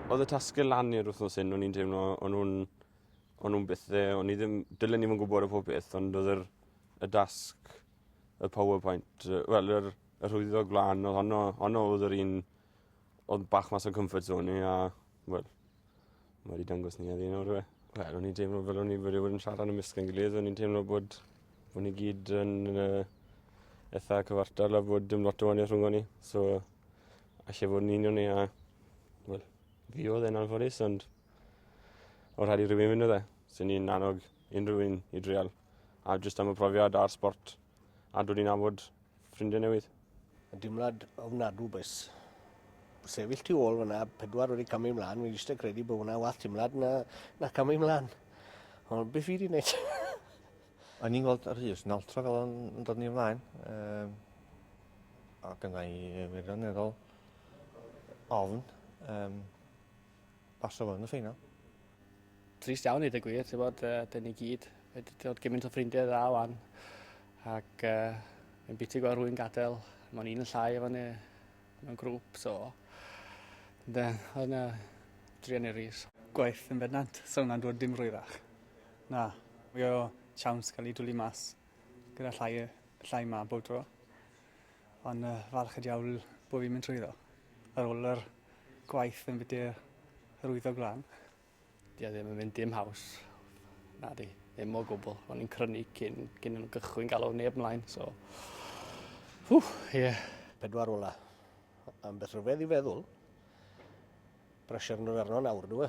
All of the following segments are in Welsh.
Oedd y tasgau lan i'r wythnos hyn, o'n i'n teimlo, o'n nhw'n o'n nhw'n bethe, o'n i ddim, dylen i ddim yn gwybod y pob beth, ond oedd yr, y dasg, y PowerPoint, wel, yr, yr hwyddo gwlân, oedd honno, honno oedd yr un oedd bach mas o'n comfort zone i, a, wel, Ma' 'di dangos ni heddi nawr yw e? Wel o'n i'n teimlo fel o'n i wedi bod yn siarad ymysg ein gilydd o'n i'n teimlo bod bo' ni gyd yn yy itha cyfartal a bod dim lot o wanieth rhwngon ni so alle fod yn union ni a wel fi odd e'n anffodus ond o' rhaid i rywun myn' odd e? Swn i'n annog unryw un i dreial a jyst am y profiad a'r sbort a dwi wedi nabod ffrindiau newydd. Yn dimlad ofnadw bus. Sefyll tu ôl fyna, pedwar wedi camu ymlaen, fi'n eisiau credu bod hwnna wath timlad na, na camu ymlaen. Ond beth fi wedi gwneud? O'n i'n gweld Rhys yn altro fel o'n yn dod ni ymlaen. Um, ac yna i wirioneddol ofn. Um, Basio fo yn y ffeinal. Trist iawn i dy gwir, ti'n bod, uh, dyn ni gyd wedi dod gymaint o ffrindiau dda wan. Ac uh, yn biti gweld rwy'n gadael, mae'n un yn llai efo ni mewn grŵp, so... Da, oedd yna drian i'r rhys. Gwaith yn bendant, so hwnna'n dod dim rhywach. Na, mae o siawns cael ei dwlu mas gyda llai, llai ma bob tro. Ond uh, falch y diawl bod fi'n mynd trwyddo. Ar ôl yr gwaith yn bydde yr wyddog glan. Di a ddim yn mynd dim haws. Na di, ddim o gwbl. O'n i'n crynu cyn, cyn yn gychwyn galw neb mlaen, so... Hw, ie. Yeah. Pedwar ola. Am beth rhyfedd i feddwl. Pressure yn yr arno nawr, dwi.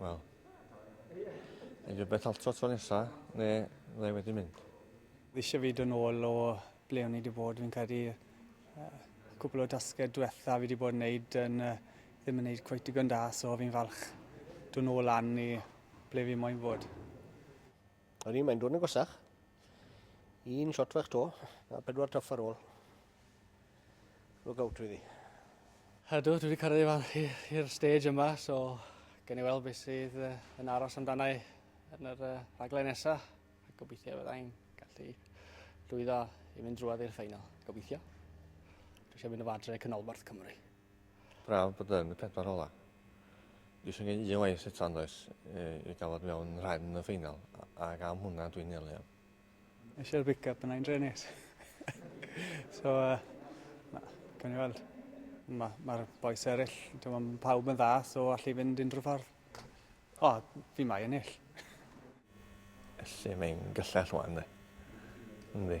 Wel, neu fi beth alto tro nesa, ne dde wedi mynd. Fi eisiau fyd yn ôl o ble o'n i wedi bod, fi'n credu uh, cwpl o dasged diwetha fi wedi bod yn neud yn uh, ddim yn neud cweith digon da, so fi'n falch dwi'n ôl lan i ble fi moyn fod. O'n i'n mae'n dod yn gwasach. Un shot fach to, a pedwar tuff ar ôl. look out really. Ydw, dwi wedi cyrraedd i fan i'r stage yma, so gen i weld beth sydd yn aros amdana i yn yr uh, rhaglen nesaf. Gobeithio byddai'n gallu llwyddo i mynd drwad i'r ffeinal. Gobeithio. Dwi eisiau mynd o fadre canolbarth Cymru. Braf bod yn y pedwar ola. Dwi eisiau gwneud un lais eto andoes i gael fod mewn rhan y ffeinal ac am hwnna dwi'n nelu am. Eisiau'r big up yna i'n drenis. so, uh, na, cawn ni weld. Mae'r ma, ma boes eraill, mae pawb yn dda, so allu fynd unrhyw ffordd. O, oh, fi mai ennill. Felly mae'n gyllell wan, dde. Ynddi.